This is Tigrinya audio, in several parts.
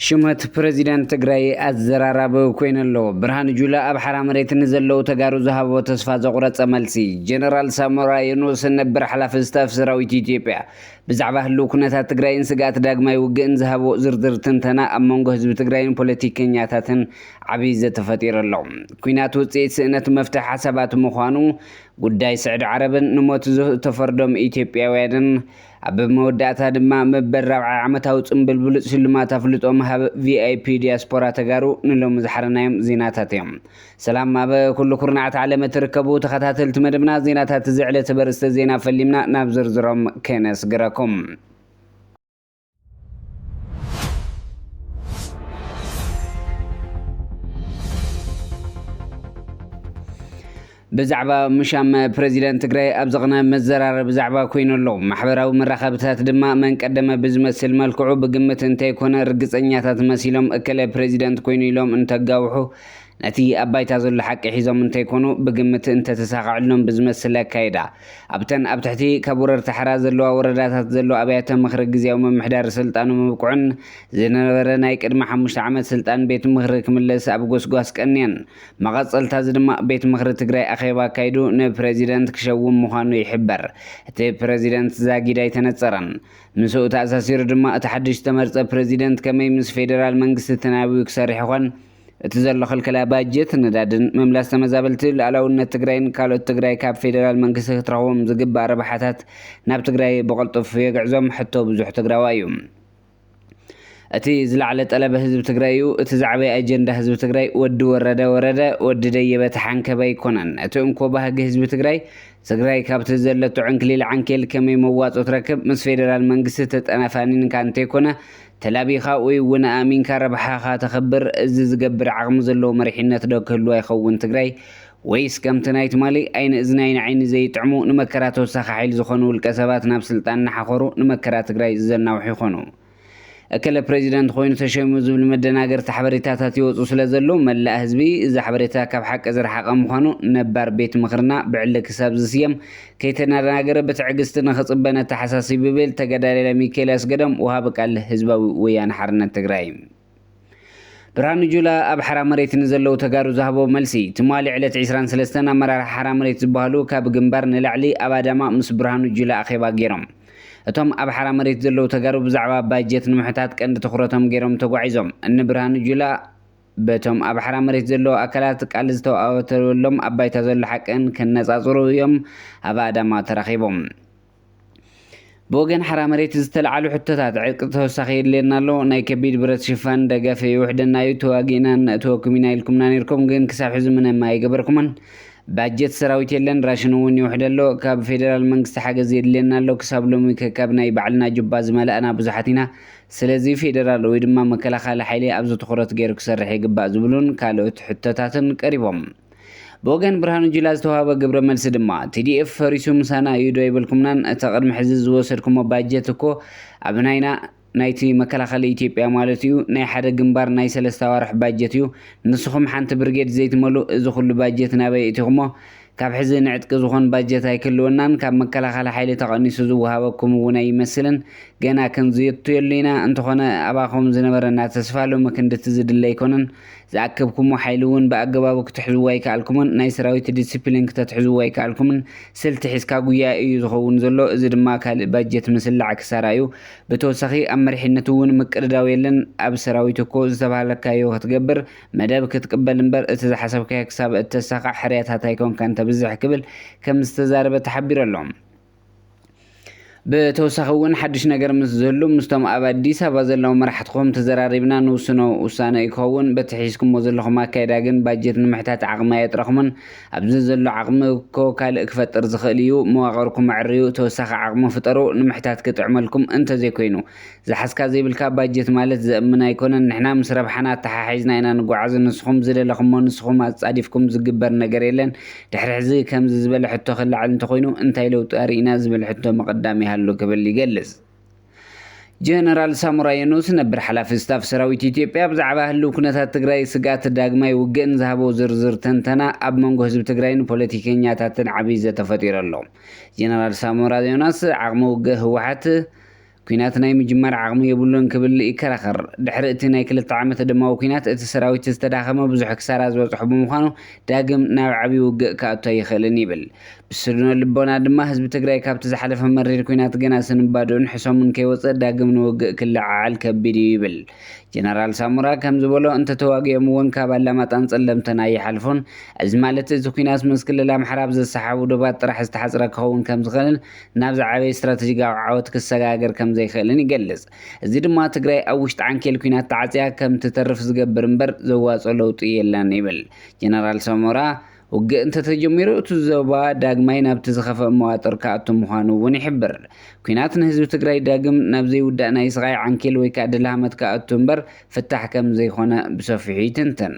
ሽመት ፕረዚደንት ትግራይ ኣዘራራቢ ኮይኑ ኣሎ። ብርሃኑ ጁላ ኣብ ሓራ መሬት ንዘለዉ ተጋሩ ዝሃቦ ተስፋ ዘቑረጸ መልሲ፣ ጀነራል ሳሞራ የኑስ ነበር ሓላፊ ስታፍ ሰራዊት ኢትዮጵያ ብዛዕባ ህልው ኩነታት ትግራይን ስግኣት ዳግማይ ውግእን ዝሃብዎ ዝርዝር ትንተና ኣብ መንጎ ህዝቢ ትግራይን ፖለቲከኛታትን ዓብይ ዘተ ፈጢሩ ኣሎ። ኲናት ውፅኢት ስእነት መፍትሒ ሓሳባት ምዃኑ ጉዳይ ስዕዲ ዓረብን ንሞት ዝተፈርዶም ኢትዮጵያውያንን ኣብ መወዳእታ ድማ መበል ራብዓይ ዓመታዊ ፅምብል ብሉፅ ሽልማት ኣፍልጦ ምሃብ VIP ዲያስፖራ ተጋሩ ንሎሚ ዝሓረናዮም ዜናታት እዮም። ሰላም ኣብ ኩሉ ኩርናዓት ዓለም እትርከቡ ተኸታተልቲ መደብና ዜናታት እዚ ዕለተ በርስተ ዜና ፈሊምና ናብ ዝርዝሮም ከነስግረኩም። ብዛዕባ ምሻም ፕረዚደንት ትግራይ ኣብ ዝቕነ መዘራረቢ ዛዕባ ኮይኑ ኣሎ ማሕበራዊ መራኸብታት ድማ መንቀደመ ብዝመስል መልክዑ ብግምት እንተይኮነ ርግፀኛታት መሲሎም እከለ ፕረዚደንት ኮይኑ ኢሎም እንተጋውሑ ነቲ ኣብ ባይታ ዘሎ ሓቂ ሒዞም እንተይኮኑ ብግምት እንተተሳኸዐሎም ብዝመስል ኣካይዳ ኣብተን ኣብ ትሕቲ ካብ ወረርቲ ሓራ ዘለዋ ወረዳታት ዘሎ ኣብያተ ምኽሪ ግዝያዊ ምምሕዳር ስልጣኑ ምብቅዑን ዝነበረ ናይ ቅድሚ ሓሙሽተ ዓመት ስልጣን ቤት ምኽሪ ክምለስ ኣብ ጎስጓስ ቀንየን። መቐፀልታ እዚ ድማ ቤት ምኽሪ ትግራይ ኣኼባ ኣካይዱ ንፕረዚደንት ክሸውም ምዃኑ ይሕበር። እቲ ፕረዚደንት ዛጊድ ኣይተነፀረን። ምስኡ ተኣሳሲሩ ድማ እቲ ሓድሽ ዝተመርፀ ፕረዚደንት ከመይ ምስ ፌደራል መንግስቲ ተናቢቡ ክሰርሕ ይኾን? እቲ ዘሎ ክልከላ ባጀት፣ ነዳድን ምምላስ ተመዛበልቲ፣ ሉኣላውነት ትግራይን ካልኦት ትግራይ ካብ ፌደራል መንግስቲ ክትረኽቦም ዝግባእ ረብሓታት ናብ ትግራይ ብቕልጡፍ የግዕዞም ሕቶ ብዙሕ ትግራዋይ እዩ። እቲ ዝለዓለ ጠለብ ህዝቢ ትግራይ እዩ። እቲ ዝዓበየ ኣጀንዳ ህዝቢ ትግራይ ወዲ ወረደ ወረደ፣ ወዲ ደየበ ተሓንከበ ኣይኮነን። እቲ እንኮ ባህጊ ህዝቢ ትግራይ፣ ትግራይ ካብቲ ዘለቶ ዕንክሊል ዓንኬል ከመይ መዋፅኦ ትረክብ፣ ምስ ፌደራል መንግስቲ ተጠናፋኒንካ እንተይኮነ ተላቢኻ ኡይ ውን ኣእሚንካ ረብሓኻ ተኽብር እዚ ዝገብር ዓቕሚ ዘለዎ መሪሒነት ዶ ክህልዋ ይኸውን ትግራይ ወይስ ከምቲ ናይ ትማሊ ኣይኒ እዝኒ ኣይኒ ዓይኒ ዘይጥዕሙ ንመከራ ተወሳኺ ሓይሊ ዝኾኑ ውልቀ ሰባት ናብ ስልጣን እናሓኾሩ ንመከራ ትግራይ ዘናውሑ ይኾኑ እከለ ፕረዚደንት ኾይኑ ተሸይሙ ዝብል መደናገርቲ ሓበሬታታት ይወፁ ስለዘለው መላእ ህዝቢ እዚ ሓበሬታ ካብ ሓቂ ዝረሓቐ ምዃኑ ነባር ቤት ምኽርና ብዕሊ ክሳብ ዝስየም ከይተደናገረ ብትዕግስቲ ንኽፅበ ነተሓሳስብ ይብል ተጋዳላይ ሚካኤል ኣስገዶም ወሃቢ ቃል ህዝባዊ ወያነ ሓርነት ትግራይ። ብርሃኑ ጁላ ኣብ ሓራ መሬት ንዘለዉ ተጋሩ ዝሃቦ መልሲ ትማሊ ዕለት ዕስራን ሰለስተን ኣመራርሓ ሓራ መሬት ዝበሃሉ ካብ ግንባር ንላዕሊ ኣብ ኣዳማ ምስ ብርሃኑ ጁላ ኣኼባ ገይሮም እቶም ኣብ ሓራ መሬት ዘለዉ ተጋሩ ብዛዕባ ባጀት ንምሕታት ቀንዲ ትኹረቶም ገይሮም ተጓዒዞም እኒ ብርሃኑ ጁላ በቶም ኣብ ሓራ መሬት ዘለዉ ኣካላት ቃል ዝተዋኣወተወሎም ኣብ ባይታ ዘሎ ሓቅን ከነጻጽሩ እዮም ኣብ ኣዳማ ተራኺቦም። ብወገን ሓራ መሬት ዝተለዓሉ ሕቶታት፣ ዕጥቂ ተወሳኺ የድልየና ኣሎ፣ ናይ ከቢድ ብረት ሽፋን ደገፍ ይውሕደና እዩ፣ ተዋጊእና ነእትወኩም ኢና ኢልኩምና ኔርኩም ግን ክሳብ ሕዚ ምንም ኣይገበርኩምን፣ ባጀት ሰራዊት የለን፣ ራሽን እውን ይውሕድ ኣሎ፣ ካብ ፌደራል መንግስቲ ሓገዝ የድልየና ኣሎ፣ ክሳብ ሎሚ ከካብ ናይ ባዕልና ጁባ ዝመላእና ብዙሓት ኢና፣ ስለዚ ፌዴራል ወይ ድማ መከላኸሊ ሓይሊ ኣብዚ ትኹረት ገይሩ ክሰርሕ ይግባእ ዝብሉን ካልኦት ሕቶታትን ቀሪቦም። ብወገን ብርሃኑ ጁላ ዝተውሃበ ግብረ መልሲ ድማ፣ TDF ፈሪሱ ምሳና እዩ ዶ ኣይበልኩምናን፣ እታ ቅድሚ ሕዚ ዝወሰድኩሞ ባጀት እኮ ኣብ ናይና፣ ናይቲ መከላኸሊ ኢትዮጵያ ማለት እዩ፣ ናይ ሓደ ግንባር ናይ ሰለስተ ኣዋርሕ ባጀት እዩ፣ ንስኹም ሓንቲ ብርጌድ ዘይትመሉ እዚ ኩሉ ባጀት ናበይ እእቲኹሞ? ካብ ሕዚ ንዕጥቂ ዝኾን ባጀት ኣይክህልወናን፣ ካብ መከላኸሊ ሓይሊ ተቐኒሱ ዝወሃበኩም እውን ኣይመስልን፣ ገና ክንዝትየሉ ኢና፣ እንተኾነ ኣባኹም ዝነበረና ተስፋ ሎሚ ክንድቲ ዝድለ ኣይኮነን፣ ዝኣከብኩሞ ሓይሊ እውን ብኣገባቡ ክትሕዝዎ ኣይከኣልኩምን፣ ናይ ሰራዊት ዲሲፕሊን ክተትሕዝዎ ኣይከኣልኩምን፣ ስልቲ ሒዝካ ጉያ እዩ ዝኸውን ዘሎ፣ እዚ ድማ ካልእ ባጀት ምስላዕ ክሳራ እዩ፣ ብተወሳኺ ኣብ መሪሕነት እውን ምቅድዳው የለን፣ ኣብ ሰራዊት እኮ ዝተባህለካዮ ክትገብር፣ መደብ ክትቅበል እምበር እቲ ዝሓሰብካዮ ክሳብ እተሳኽዕ ሕርያታት ኣይኮንካን ተብዝሕ ክብል ከም ዝተዛረበ ተሓቢሩ ኣሎ። ብተወሳኺ እውን ሓዱሽ ነገር ምስ ዝህሉ ምስቶም ኣብ ኣዲስ ኣበባ ዘለዉ መራሕትኹም ተዘራሪብና ንውስኖ ውሳነ እዩ ክኸውን፣ በቲ ሒዝኩሞ ዘለኹም ኣካይዳ ግን ባጀት ንምሕታት ዓቕሚ ኣየጥረኹምን፣ ኣብዚ ዘሎ ዓቕሚ እኮ ካልእ ክፈጥር ዝኽእል እዩ፣ መዋቕርኩም ኣዕርዩ ተወሳኺ ዓቕሚ ፍጠሩ ንምሕታት ክጥዕመልኩም እንተዘይኮይኑ ዝሓዝካ ዘይብልካ ባጀት ማለት ዘእምን ኣይኮነን ንሕና ምስ ረብሓና ኣተሓሒዝና ኢና ንጓዓዝ ንስኹም ዝደለኽሞ ንስኹም ኣጻዲፍኩም ዝግበር ነገር የለን ድሕሪ ሕዚ ከምዚ ዝበለ ሕቶ ክላዓል እንተኾይኑ እንታይ ለውጢ ኣርኢና ዝብል ሕቶ ምቕዳም ይሃሉ ክብል ይገልጽ ጀነራል ሳሞራ የኑስ ነበር ሓላፊ ስታፍ ሰራዊት ኢትዮጵያ ብዛዕባ ህልው ኩነታት ትግራይ ስግኣት ዳግማይ ውግእን ዝሃቦ ዝርዝር ትንተና ኣብ መንጎ ህዝቢ ትግራይን ፖለቲከኛታትን ዓብይ ዘተ ፈጢሩ ኣሎ ጀነራል ሳሞራ ዮናስ ዓቕሚ ውግእ ህወሓት ኲናት ናይ ምጅማር ዓቕሚ የብሉን ክብል ይከራኸር። ድሕሪ እቲ ናይ ክልተ ዓመት ደማዊ ኲናት፣ እቲ ሰራዊት ዝተዳኸመ፣ ብዙሕ ክሳራ ዝበጽሖ ብምዃኑ ዳግም ናብ ዓብዪ ውግእ ክኣቱ ኣይኽእልን ይብል። ብስነ ልቦና ድማ ህዝቢ ትግራይ ካብቲ ዝሓለፈ መሪር ኲናት ገና ስንባደኡን ሕሰሙን ከይወጸ ዳግም ንውግእ ክለዓዓል ከቢድ እዩ ይብል። ጀነራል ሳሞራ ከም ዝበሎ እንተተዋጊኦም እውን ካብ ኣላማጣን ጸለምተን ኣይሓልፉን። እዚ ማለት እቲ ኲናት ምስ ክልል ኣምሓራ ኣብ ዘሰሓሕቡ ዶባት ጥራሕ ዝተሓጽረ ክኸውን ከም ዝኽእልን ናብ ዝዓበየ ስትራተጂካዊ ዓወት ክሰጋገር ከምዘይክእልን ይገልጽ። እዚ ድማ ትግራይ ኣብ ውሽጢ ዓንኬል ኲናት ተዓጽያ ከምትተርፍ ዝገብር እምበር ዘዋጽኦ ለውጢ የለን ይብል ጀነራል ሳሞራ። ውግእ እንተተጀሚሩ እቲ ዞባ ዳግማይ ናብቲ ዝኸፍኣ መዋጥር ክኣቱ ምዃኑ እውን ይሕብር። ኲናት ንህዝቢ ትግራይ ዳግም ናብ ዘይውዳእ ናይ ስቓይ ዓንኬል ወይከኣ ደልሃመት ክኣቱ እምበር ፍታሕ ከምዘይኮነ ብሰፊሑ ይትንትን።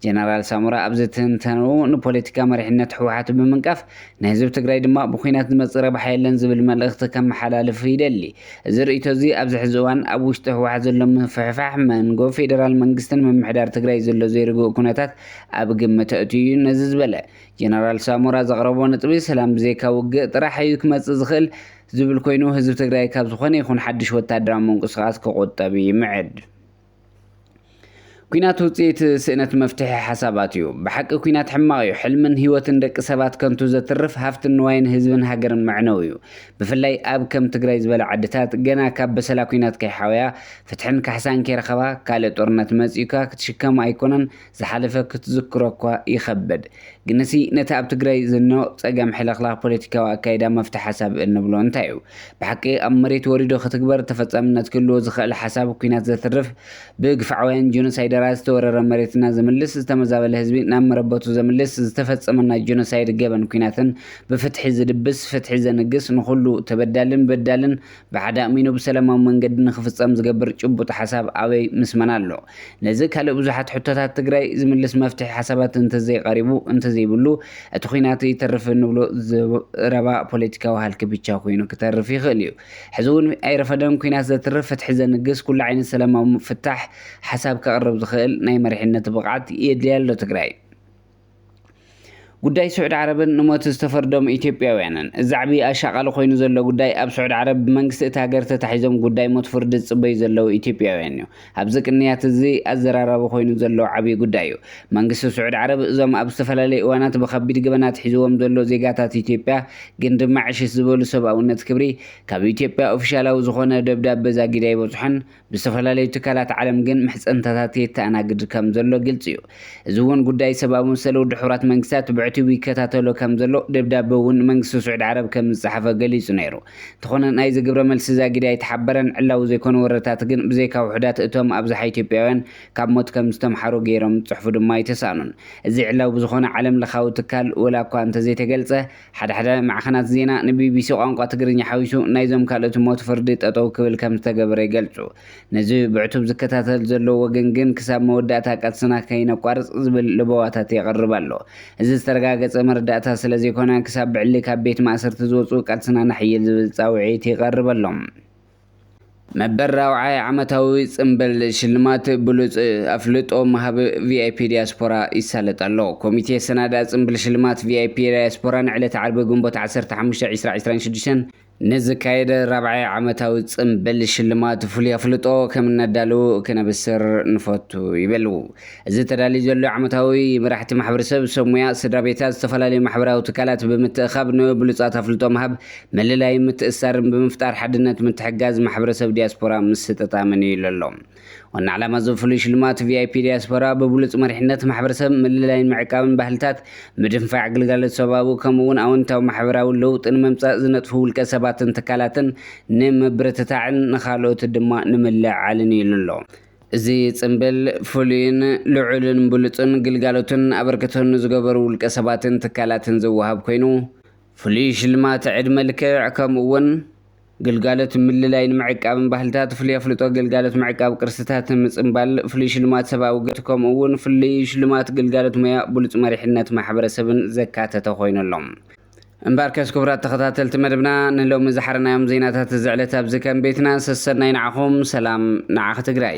ጀነራል ሳሞራ ኣብዚ ትንተንኡ ንፖለቲካ መሪሕነት ህወሓት ብምንቃፍ ንህዝቢ ትግራይ ድማ ብኲናት ዝመፅእ ረብሓ የለን ዝብል መልእኽቲ ከመሓላልፍ ይደሊ። እዚ ርእይቶ እዚ ኣብዚ ሕዚ እዋን ኣብ ውሽጢ ህወሓት ዘሎ ምፍሕፋሕ፣ መንጎ ፌደራል መንግስትን ምምሕዳር ትግራይ ዘሎ ዘይርጉእ ኩነታት ኣብ ግምት ኣእትዩ እዩ። ነዚ ዝበለ ጀነራል ሳሞራ ዘቕረቦ ነጥቢ ሰላም ብዘይካ ውግእ ጥራሕ እዩ ክመፅእ ዝኽእል ዝብል ኮይኑ ህዝቢ ትግራይ ካብ ዝኾነ ይኹን ሓዱሽ ወታደራዊ ምንቅስቓስ ክቑጠብ ይምዕድ። ኩናት ውፅኢት ስእነት መፍትሒ ሓሳባት እዩ። ብሓቂ ኩናት ሕማቕ እዩ። ሕልምን ህይወትን ደቂ ሰባት ከንቱ ዘትርፍ ሃፍትን ንዋይን ህዝብን ሃገርን መዕነው እዩ። ብፍላይ ኣብ ከም ትግራይ ዝበለ ዓድታት ገና ካብ በሰላ ኩናት ከይሓወያ፣ ፍትሕን ካሕሳን ከይረኸባ፣ ካልእ ጦርነት መፂኡካ ክትሽከሞ ኣይኮነን ዝሓለፈ ክትዝክሮ እኳ ይኸበድ ግንሲ ነቲ ኣብ ትግራይ ዝኖ ፀገም ሕልኽላኽ ፖለቲካዊ ኣካይዳ መፍትሒ ሓሳብ እንብሎ እንታይ እዩ? ብሓቂ ኣብ መሬት ወሪዱ ክትግበር ተፈፃምነት ክህልዎ ዝኸእል ሓሳብ ኩናት ዘትርፍ ብግፍዓውያን ጆኖሳይደራት ዝተወረረ መሬትና ዝምልስ ዝተመዛበለ ህዝቢ ናብ መረበቱ ዘምልስ ዝተፈፀመና ጆኖሳይድ ገበን ኩናትን ብፍትሒ ዝድብስ ፍትሒ ዘንግስ ንኹሉ ተበዳልን በዳልን ብሓደ ኣእሚኑ ብሰለማዊ መንገዲ ንክፍፀም ዝገብር ጭቡጥ ሓሳብ ኣበይ ምስ መን ኣሎ? ነዚ ካልእ ብዙሓት ሕቶታት ትግራይ ዝምልስ መፍትሒ ሓሳባት እንተዘይቐሪቡ እንተዘይብሉ እቲ ኹናት ይተርፍ እንብሎ ዝረባ ፖለቲካዊ ሃልኪ ብቻ ኮይኑ ክተርፍ ይኽእል እዩ። ሕዚ ውን ኣይረፈደን ኹናት ዘትርፍ ፍትሒ ዘንግስ ኩሉ ዓይነት ሰለማዊ ፍታሕ ሓሳብ ከቕርብ ዝኽእል ናይ መሪሕነት ብቕዓት የድልያ ኣሎ ትግራይ። ጉዳይ ስዑዲ ዓረብን ንሞት ዝተፈርዶም ኢትዮጵያውያንን እዚ ዓብዪ ኣሻቓሊ ኮይኑ ዘሎ ጉዳይ ኣብ ስዑዲ ዓረብ ብመንግስቲ እቲ ሃገር ተታሒዞም ጉዳይ ሞት ፍርዲ ዝፅበዩ ዘለው ኢትዮጵያውያን እዩ። ኣብዚ ቅንያት እዚ ኣዘራራቢ ኮይኑ ዘሎ ዓብዪ ጉዳይ እዩ። መንግስቲ ስዑዲ ዓረብ እዞም ኣብ ዝተፈላለዩ እዋናት ብኸቢድ ገበናት ሒዝዎም ዘሎ ዜጋታት ኢትዮጵያ ግን ድማ ዕሽሽ ዝበሉ ሰብኣውነት ክብሪ ካብ ኢትዮጵያ ኦፊሻላዊ ዝኾነ ደብዳበ ዛጊድ ኣይበፅሖን ብዝተፈላለዩ ትካላት ዓለም ግን ምሕጽንታታት የተኣናግድ ከም ዘሎ ግልጺ እዩ። እዚ እውን ጉዳይ ሰብኣዊ መሰል ውድብ ሕቡራት መንግስታት ብዕቲቡ ይከታተሎ ከም ዘሎ ደብዳበ እውን ንመንግስቲ ስዑድ ዓረብ ከም ዝጸሓፈ ገሊጹ ነይሩ። እንተኾነ ናይዚ ግብረ መልሲ ዛጊድ ኣይተሓበረን። ዕላዊ ዘይኮኑ ወረታት ግን ብዘይካ ውሑዳት እቶም ኣብዝሓ ኢትዮጵያውያን ካብ ሞት ከም ዝተምሓሩ ገይሮም ዝጽሕፉ ድማ ኣይተሳእኑን። እዚ ዕላዊ ብዝኾነ ዓለም ለኻዊ ትካል ወላ እኳ እንተዘይተገልጸ ሓደ ሓደ ማዕኸናት ዜና ንቢቢሲ ቋንቋ ትግርኛ ሓዊሱ ናይዞም ካልኦት ሞት ፍርዲ ጠጠው ክብል ከምዝተገበረ ይገልጹ። ነዚ ብዕቱብ ዝከታተል ዘሎ ወገን ግን ክሳብ መወዳእታ ቃልስና ከይነቋርጽ ዝብል ለበዋታት የቕርብ ኣሎ። እዚ ዝተረጋገጸ መረዳእታ ስለዘይኮነ ክሳብ ብዕሊ ካብ ቤት ማእሰርቲ ዝወጹ ቃልስና ነሐይል ዝብል ጻውዒት ይቐርበሎም። መበል ራብዓይ ዓመታዊ ጽምብል ሽልማት ብሉጽ ኣፍልጦ ምሃብ ቪኣይፒ ዲያስፖራ ይሳለጥ ኣሎ። ኮሚቴ ኣሰናዳኢ ጽምብል ሽልማት ቪኣይፒ ዳያስፖራ ንዕለተ ዓርቢ ግንቦት ዓሰርተ ሓሙሽተ ዕስራ ዕስራን ሽዱሽተን ንዝካየድ ራብዓይ ዓመታዊ ጽምብል ሽልማት ፍሉይ ኣፍልጦ ከም እነዳሉ ክነብስር ንፈቱ ይብል እዚ ተዳልዩ ዘሎ ዓመታዊ መራሕቲ ማሕበረሰብ፣ ሰብ ሞያ፣ ስድራ ቤታት፣ ዝተፈላለዩ ማሕበራዊ ትካላት ብምትእኻብ ንብሉፃት ኣፍልጦ ምሃብ፣ ምልላይን ምትእስሳርን ብምፍጣር ሓድነት ምትሕግጋዝ ማሕበረሰብ ዲያስፖራ ምስ ስጠታ መንዩ ኢሉ ኣሎ። ዋና ዕላማ እዚ ፍሉይ ሽልማት ቪኣይፒ ዲያስፖራ ብብሉፅ መሪሕነት ማሕበረሰብ ምልላይን ምዕቃብን ባህልታት ምድንፋዕ ግልጋሎት ሰብኣዊ ከምኡ እውን ኣወንታዊ ማሕበራዊ ለውጢ ንምምፃእ ዝነጥፉ ውልቀ ሰባትን ትካላትን ንምብርትታዕን ንካልኦት ድማ ንምልዕዓልን እዩ ኢሉ ኣሎ። እዚ ጽምብል ፍሉይን ልዑልን ብሉጽን ግልጋሎትን ኣበርክቶን ንዝገበሩ ውልቀ ሰባትን ትካላትን ዝወሃብ ኮይኑ፣ ፍሉይ ሽልማት ዕድመ ልክዕ ከምኡ እውን ግልጋሎት ምልላይን ምዕቃብን ባህልታት፣ ፍሉይ ኣፍልጦ ግልጋሎት ምዕቃብ ቅርስታት፣ ምጽምባል፣ ፍሉይ ሽልማት ሰብኣዊ ግልጋሎት ከምኡ እውን ፍሉይ ሽልማት ግልጋሎት ሞያ ብሉጽ መሪሕነት ማሕበረሰብን ዘካተተ ኮይኑ ኣሎ። እምበኣርከስ ክቡራት ተኸታተልቲ መደብና ንሎሚ ዝሓረናዮም ዜናታት እዚ ዕለት ኣብዚ ከም ቤትና ሰሰናይ ንዓኹም ሰላም ንዓኺ ትግራይ